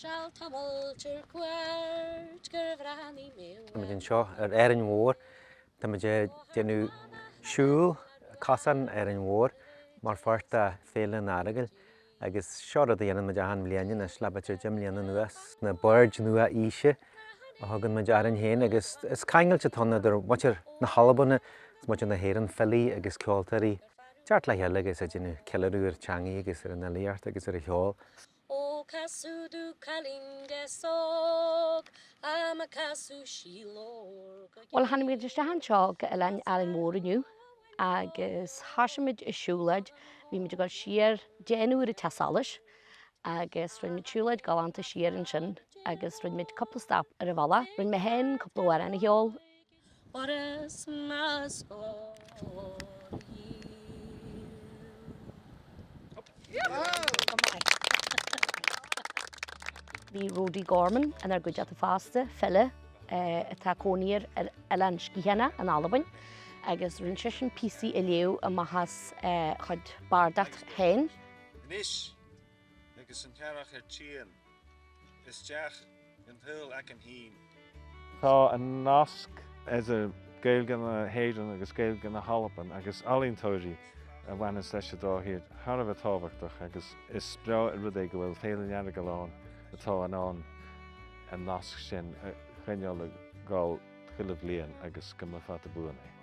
Seal tamall ar cuairt gur bhreathnaigh mé uaim. Tá muid anseo ar Árainn Mhór. Tá muid ag déanamh siúl, cosán Árainn Mhór mar pháirt de Féile an Earagail agus seo rud a dhéanann muid achan bhliain anois le b'fhéidir deich mbliana anuas, na baird nua-aoise a thugann muid orainn féin agus is ceangal atá ann idir muintir na hAlban is muintir na hÉireann, filí agus ceoltóirí ag teacht le chéile agus ag déanamh ceiliúradh ar theangaí agus ar an fhilíocht agus ar an cheol. Ó casadh do cailín de sóc ama casadh sí lorg a Bhuel, tháinig muid isteach anseo go Oileán Árainn Mhór inniu agus thoisigh muid an siúlóid. Bhí muid ag dul siar de dh'ionsair an teach solais agus rinne muid siúlóid galánta siar ansin agus rinne muid cúpla stop ar an bhealach. Rinne mé féin cúpla amhrán a cheol. What a smash for you. Bhí Rody Gorman inar gcuideachta fosta, file atá ina chónaí ar Oileán Sciathanach in Albain, agus rinne seisean píosaí a léamh amach as a chuid bardachta féin. Anois, Agus an t-earrach ar tíocht. Isteach in a shaol aige fhéin. Tá an nasc idir Gaeilge na hÉireann agus Gaeilge na hAlban agus ealaíontóirí a bhaineas leis an dá thír thar a bheith tábhachtach agus is breá an rud é go bhfuil Féile an Earagail ann atá in ann an nasc sin a choinneáil ag goil chuile bhliain agus go mba fada buan é.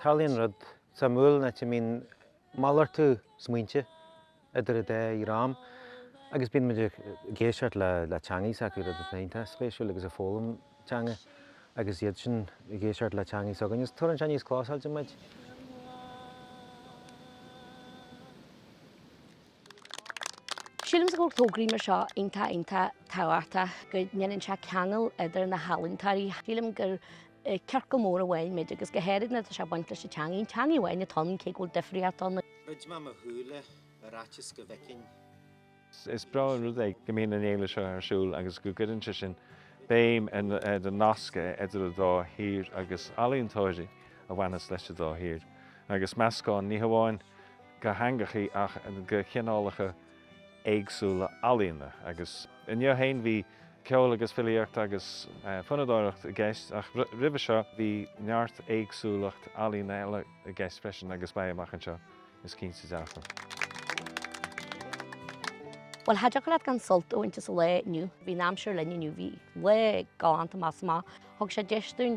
Tarlaíonn rud suimiúil nuair a bhíonn malartú smaointe idir an dá dhream agus bíonn muid ag éisteacht le teangaidh s'acu, rud atá iontach spéisiúil, agus ag foghlaim teanga agus iadsan ag éisteacht le teangaidh s'againn. Is tugann sé níos clósáilte muid. Sílimse go bhfuil tograí mar seo iontach iontach tábhachtach, go ndéanann sé ceangal idir na healaíntóirí. Sílim gur ciorcal mór amháin muid agus go háirid nuair atá sé ag baint leis an teangaidh. An teangaidh amháin atá ann cé go bhfuil difríocht ann. Dhruid mé mo shúile ar fhaitíos go bhfeicfinn. Is breá an rud é go mbíonn an fhéile seo ar siúl agus go gcuireann sé sin béim ar na nasca idir an dá thír agus ealaíontóirí a bhaineas leis an dá thír agus meascán ní hamháin de theangachaí ach de chineálacha éagsúla ealaíona agus inniu féin bhí ceol agus filíocht agus fonnadóireacht i gceist ach roimhe seo bhí neart éagsúlacht ealaíona eile i gceist freisin agus beidh amach anseo is cinnte dearfa. Bhuel, cha dtiocfadh leat gan sult a bhaint as an lá inniu. Bhí an aimsir linn inniu, bhí lá galánta, measaim. Thug sé deis dúinn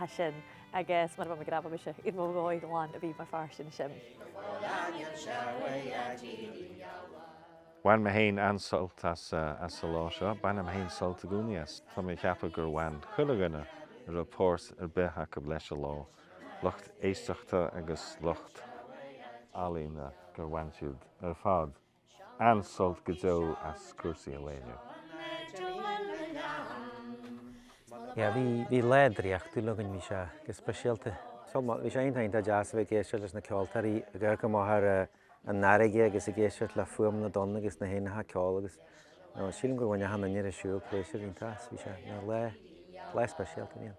ea sin agus mura bhfuil mé go raibh mise i mo ghadaí lán a bhí mar fear sin sin. Bhain mé héin an-sult as an lá seo. Bainim héin sult i gcónaí as. Tá mé ag ceapadh gur bhain chuile dhuine a raibh páirt ar bith acu leis an lá, lucht éisteachta agus lucht ealaíne, gur bhain siad siúd ar fad. An-sult go deo as cúrsaí an lae inniu. Yeah, bhí, bhí lá draíochtúil againn bhí sé go speisialta. So, bhí sé iontach deas a bheith ag éisteacht leis na ceoltóirí ag amharc amach ar eh, an fharraige agus ag éisteacht le fuaim na dtonn agus na héanacha ag ceol agus no, sílim gur bhain achan duine a raibh ar siúl pléisiúr iontach as. Bhí sé nó lá, lá speisialta bhí ann.